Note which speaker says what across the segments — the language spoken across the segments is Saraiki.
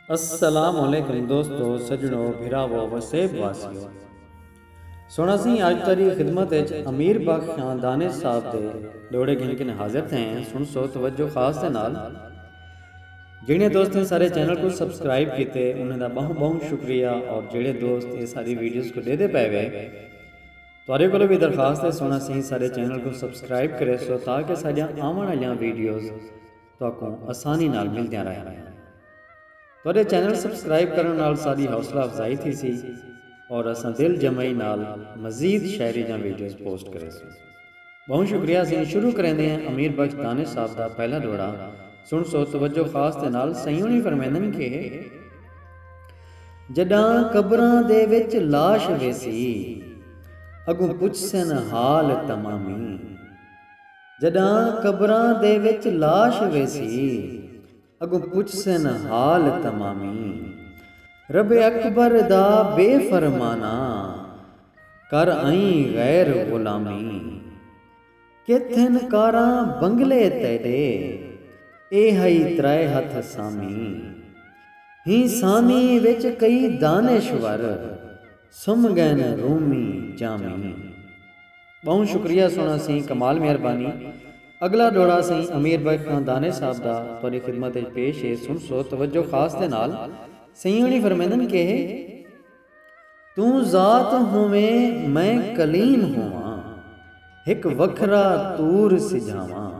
Speaker 1: السلام علیکم دوستو سجنو بھراوو وسیب واسیو سونا سی آج تاری خدمت اچ امیر بخ خاندان صاحب دے دوڑے گھن کن حاضر تھے ہیں سن سو توجہ خاص دے نال جنہیں دوست نے سارے چینل کو سبسکرائب کیتے انہیں دا بہن بہن شکریہ اور جنہیں دوست نے ساری ویڈیوز کو دے دے پہوے تہاڈے کولوں وی درخواست ہے سونا سیں ساڈے چینل کوں سبسکرائب کریسو تاکہ ساڈیاں آون آلیاں ویڈیوز تہاکوں آسانی نال ملدیاں رہن۔ تہاڈے چینل سبسکرائب کرن نال ساڈی حوصلہ افزائی تھیسی اور اساں دل جمعی نال مزید شاعری دیاں ویڈیوز پوسٹ کریسوں۔ بہوں شکریہ سیں شروع کریندے ہیں امیر بخش دانش صاحب دا پہلا ڈوہڑا سنڑسو توجہ خاص دے نال سئیں ہونی فرمیندن کہ۔ جݙاں قبراں دے وچ لاش ویسی اڳوں پچھسن حال تمامی جݙاں قبراں دے وچ لاش ویسی اڳوں پچھسن حال تمامی رب اکبر دا بے فرمانہ کر آئیں غیر غلامی۔ کتھن کاراں بنگلے تیڈے اے ہئی ترائے ہتھ سامی ہیں سامی وچ کئی دانش ور سم گئن رومی جامی۔ ٻہوں شکریہ سوہݨا سئیں کمال مہربانی اڳلا ݙوہڑا سئیں امیر بخش خاں دانش صاحب دا تہاݙی خدمت اچ پیش ہے سݨسو توجہ خاص دے نال سئیں ہوݨی فرمیندن کہے۔ توں ذات ہوویں میں کلیم ہوواں ہک وکھرا طور سجھاواں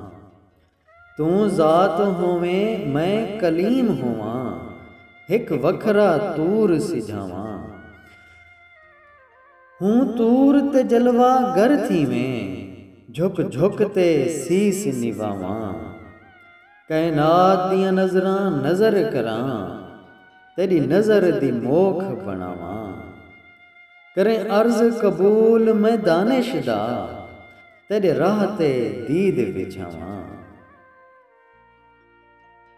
Speaker 1: توں ذات ہوویں میں کلیم ہوواں ہک وکھرا طور سجھاواں ہوں طور تے جلوہ گر تھیویں جھک جھک تے سیس نواواں۔ کائنات دیاں نظراں نظر کراں تیݙی نظر دی موکھ بݨاواں کریں عرض قبول میں دانش دا تیݙے راہ تے دید وچھاواں۔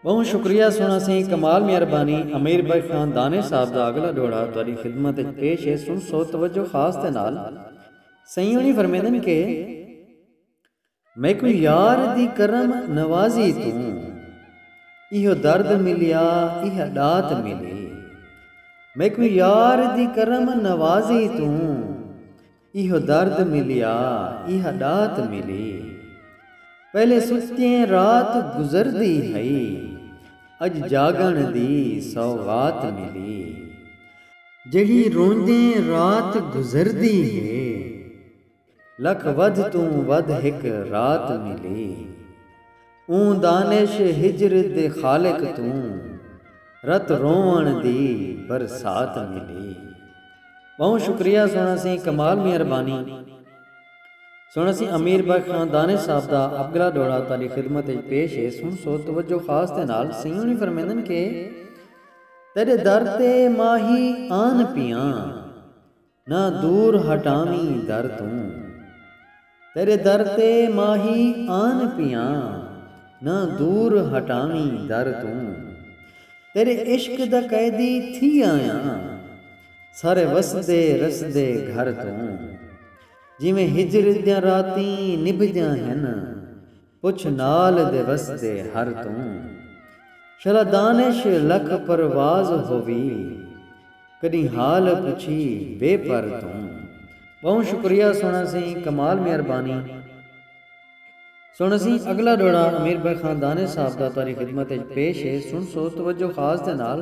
Speaker 1: ٻہوں شکریہ سݨاں سئیں کمال میاں ربانی امیر بخش خان دانش صاحب دا اڳلا ݙوہڑا تہاݙی خدمت اچ پیش ہے سݨسو توجہ خاص دے نال سئیں ہوݨی فرمیندن کہ۔ میکوں یار دی کرم نوازی توں ایہو درد ملیا ایہا ڈات ملی میکوں یار دی کرم نوازی توں ایہو درد ملیا ایہا ڈات ملی پہلے ستیں رات گزردی ہئی اج جاگݨ دی سوغات ملی جیڑھی روندیں رات گزردی ہے۔ لکھ ودھ توں ودھ ہک رات ملی۔ اوں دانش ہجر دے خالق توں رت رووݨ دی برسات ملی۔ ٻہوں شکریہ سݨا سی کمال میاں ربانی سݨا سی امیر بخش خان دانش صاحب دا ابگلا ݙوہڑا تہاݙی خدمت اچ پیش ہے سݨ سو توجہ خاص دے نال سئیں ہوݨی فرمیندن کہ تیݙے در تے ماہی آن پیاں۔ نہ دور ہٹاویں در توں تیرے در تے ماہی آن پیاں نہ دور ہٹاویں در توں تیرے عشق دا قیدی تھی آیاں سارے وسدے رسدے گھر توں جیویں ہجر دیاں راتیں نبھدیاں ہن۔ پچھ نال دے وسدے ہر توں۔ شلا دانش لکھ پرواز ہووی۔ کڈی حال پچھی بے پر توں۔ بہوں شکریہ سونا سی کمال مہربانی سونا سی اگلا ڈوڑا امیر بھائی خان دانش صاحب دا تہاڈی خدمت اچ پیش ہے سنسو توجہ خاص دے نال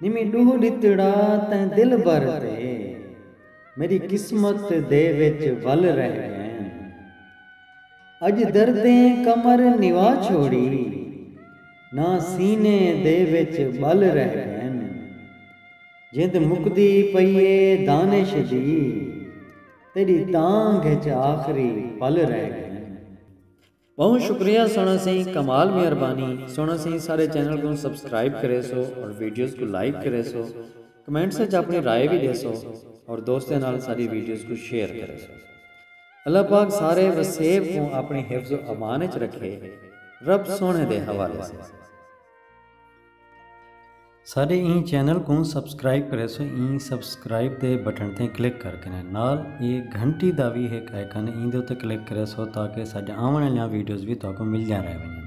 Speaker 1: نی میں ڈوہ ڈتڑا تیں دلبر تے میڈی قسمت دے وچ ول رہ گئین اج دردیں کمر نوا چھوڑی نہ سینے دے وچ بل رہ گئین جند مکدی پئی اے دانش دی تیڈی تانگھ اچ آخری پل رہ گئین۔ بہوں شکریہ سونا سئیں کمال مہربانی سونا سئیں سارے چینل کوں سبسکرائب کریسو اور ویڈیوز کوں لائک کریسو کمنٹس وچ اپنی رائے وی ڈیسو اور دوستاں نال ساڈی ویڈیوز کوں شیئر کریسو اللہ پاک سارے وسیب کوں اپنی حفظ و امان وچ رکھے رب سونے دے حوالے سئیں۔ ساڈے ایں چینل کوں سبسکرائب کریسو ایں سبسکرائب دے بٹن تے کلک کر کے نال اے گھنٹی دا وی ہک آئیکن ایندے اتے کلک کریسو تاکہ ساڈے آون آلیاں ویڈیوز وی تہاکوں ملدیاں رہ ونجن